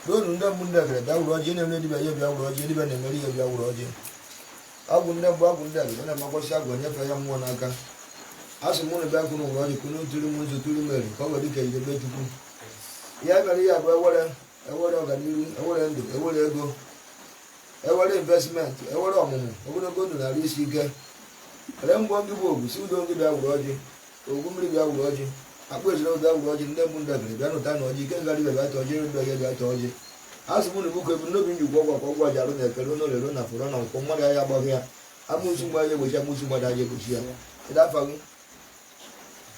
n'olu ndị mbụ ndị egede bịa wuru ọjị na-eme dibịa ya bịa wuru ọjị dibịa na-emeri ya bịa wuru ọjị agwụ ndị mbụ agwụ ndị egede na makwasị agwụ enyefe ya mmụọ n'aka asị m unu bịa kwuru wuru ọjị kwuru tụrụ m nzu tụrụ mere ka ọ nwere ike idebe chukwu ya mere ya bụ ewere ewere ọganihu ewere ndụ ewere ego ewere investment ewere ọmụmụ ogologo ndụ na arụ isi ike were mgbọ ndị bụ ogwu si udo ndị bịa wuru ọjị ogwu mmiri bịa wuru ọjị akpụ ejire ụda wuru ọjị ndị mbụ ndị egede bịa nụta na ọjị ike ngarị bịa ata ọjị ere bịa bịa ata ọjị azụ mụ na ibu kwebu n'obi nji gwọ gwakwa ụgwọ a ga-arụ na eke rụ na orie rụ na afọ rụ na nkwọ mmadụ ahịa agbaghị ya amusu mgbe ahịa egbochi amusu mmadụ ahịa egbochi ya ịda afa gị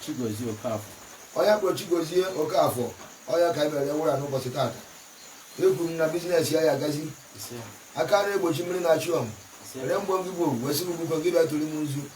Chigozie Okafọ onye a kpọrọ Chigozie Okafọ ọ ya ka anyị mere wụra n'ụbọchị tata ekwuru m na bizinesi ya ga-agazi ise aka na-egbochi mmiri na-achụ ọm ere mgbọ gị bụ wesịrị ugwukọ gị bịa tụrụ m nzu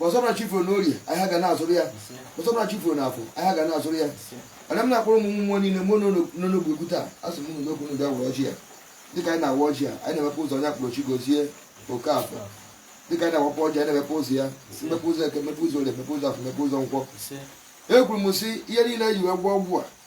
asị ọ bụrụ chi fo na orie ahịa ga na-azụrụ ya asị ọ bụrụ chi fo na afọ ahịa ga na-azụrụ ya ana m na-akpọrọ ụmụ mmụọ niile mụ n'onogbu egwu taa asị m unu n'okwu ndị awa ọjị a dịka anyị na-awa ọjị a anyị na-emepe ụzọ onye a kpọrọ Chigozie Okafọ dịka anyị na-awapụ ọjị anyị na-emepe ụzọ ya mmepe ụzọ eke mmepe ụzọ orie mmepe ụzọ afọ mmepe ụzọ nkwọ ekwuru m sị ihe niile e ji wee gwọ ọgwụ a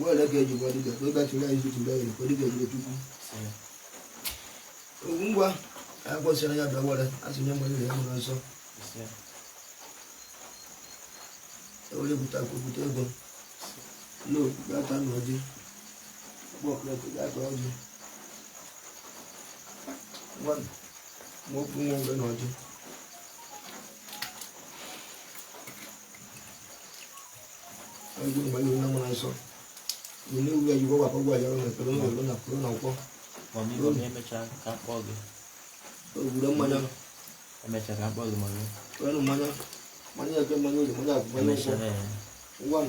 wele ka eji gwa dibịa ka ọ bịachiri anyị zutu bịa yiri ka dibịa jiri chukwu ogwu ngwa ya kwesịrị ya bịa were asị nye nwere ya nwere nsọ ewere bute akụ bute ego lo gata na ọjị kpọkụlekụ gata ọjị nwanụ ma okwu nwa oge na ọjị ndị mgbe anyị nwe na nsọ ule ule ji gwagwa akpagwa ya ọrụ ekpere na ụlọ na kwuru na nkwọ Mamigo na emechaa ka akpọ gị ogwure mmanya emechaa ka akpọ gị mami kwenụ mmanya mmanya eke mmanya orie mmanya afọ mmanya nkwọ emechaa ee ngwa m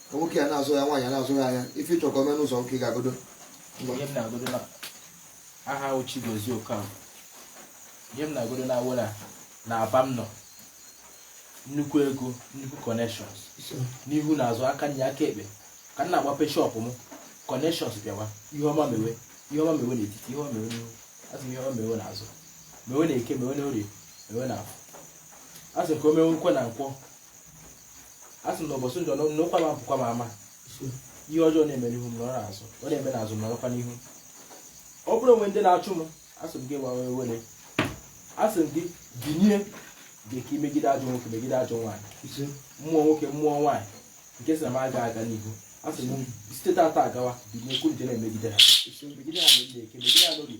nwoke ya na-azụ ya nwaanyị na-azụ ya anya ife ịchọ ka o mee n'ụzọ nke ị ga-agodo ihe m na-agodo na aha ahụ Chigozie Okafor ihe m na-agodo na Owerri na Aba m nọ nnukwu ego nnukwu connections n'ihu na azụ aka nri aka ekpe ka m na-agbape shọpụ m connections bịawa ihe ọma mewe ihe ọma mewe n'etiti ihe ọma mewe n'ihu asị m ihe ọma mewe n'azụ mewe na eke mewe na orie mewe na afọ asị m ka o mewekwe na nkwọ asị m na ụbọchị njọ na ụkwụ m apụkwa m ama ihe ọjọọ na-eme n'ihu m nọrọ azụ ọ na-eme n'azụ m nọrọkwa n'ihu ọ bụrụ o nwee ndị na-achụ m asị m gị gbanwe were asị m gị binye dị ka i megide ajọ nwoke megide ajọ nwaanyị mmụọ nwoke mmụọ nwaanyị nke sị na m aga aga n'ihu asị m site tata agawa binye kwuru na-emegide ha megide ha na eke megide ha na orie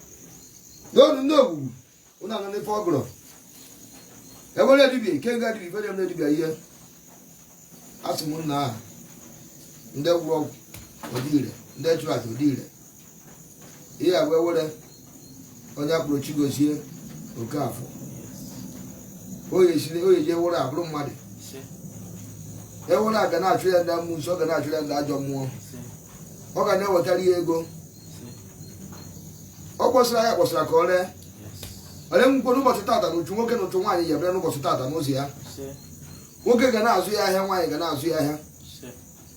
n'ọnụ ndị ogwugwu ụnụ anọ n'ife ọgụrụ ewere edibi nke nga edibi ife na-eme dibịa ihe asị m nna aha ndị gwọrọ ọgwụ o dire ndị chụrụ aja o dire ihe agwa ewere onye a kpọrọ chigozie okeafọ oye siri oye ji ewere abụrụ mmadụ ewere a ga na-achụ ya ndị amusu ọ ga na-achụ ya ndị ajọ mmụọ ọ ga na-ewetara ya ego ọ kpọsara ahịa kpọsara ka o ree ole ngwukwe n'ụbọchị tata na uchu nwoke na uchu nwaanyị ga-ebere n'ụbọchị tata n'ụzọ ya nwoke ga na-azụ ya ahịa nwaanyị ga na-azụ ya ahịa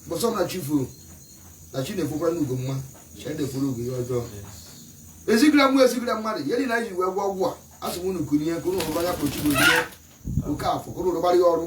bụsọ na chi fo na chi na-efokwara n'ugo mma chi na-eforo ugo ihe ọjọọ e zigara mmụọ e zigara mmadụ ihe niile anyị ji wee gwọ ọgwụ a asị m unu kunie ka unu rụbara ya kpọ chigozie okeafọ ka unu rụbara ya ọrụ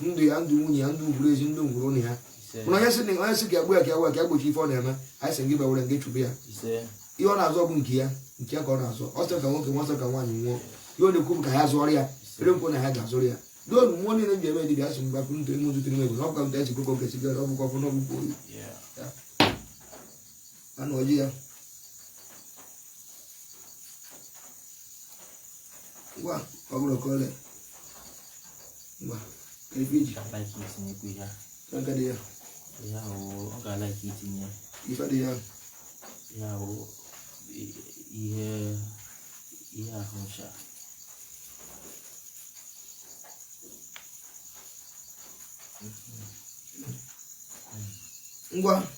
ndụ ya ndụ nwunye ya ndụ ngwuru ezi ndụ ngwuru ụnọ ya mana onye sị na onye sị ka e gbuo ya ka ewe ka e gbochie ife ọ na-eme anyị sị gị bewere nke chụbụ ya ihe ọ na-azọ bụ nke ya nke ya ka ọ na-azọ ọ sịrị ka nwoke nwụọ sịrị ka nwaanyị nwụọ ihe ọ na-ekwu bụ ka ha zụọrọ ya ere nkwo na ha ga-azụrụ ya n'olu mmụọ niile m ji eme dibịa asị mgbe akwụ ntụ ime ụzụ tiri m egwu na ọ bụkwa nta esi kwekọ nke sigara ọ bụkwa ọfụ n'ọgwụkwọ oyi anọji ya ngwa ọ bụrụ ka ole ngwa ka ebe iji Ka like itinyekwu ihe a. aka dị ya Ihe ahụ ọ ga-a like itinye ya. ife dị ya Ihe ahụ i- ihe ihe ahụ ncha. ngwa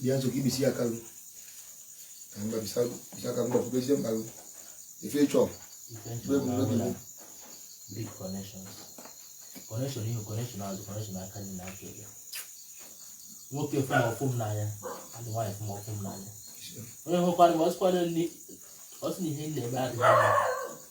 bịa nso ka ibisi ya kalụ ka mgba bisa ka mgba pụbezie mkpalụ ife chọọ Big connections. Connection ihu connection azụ connection aka nri na aka ekpe. Nwoke fụ m ọ fụ m n'anya, adị nwaanyị fụ m ọ fụ m n'anya. Onye hụkwara m ọsịkwara nri ọ sị na ihe m na-eme adịghị mma.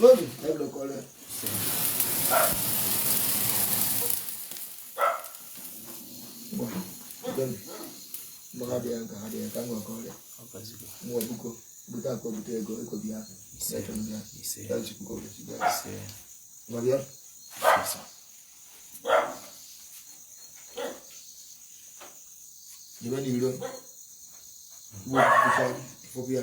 Lónìí, ẹ lọ kọ́ lẹ́. Maka dị ya nka ha dị ya nka nwa kọrịa. Nwa buko, bute akọ bute ego, ego bịa. Ego bịa. Ya chukwu ka obodo chukwu ya. Nwa bịa. Jebe n'iro. Nwa buko, fọbịa.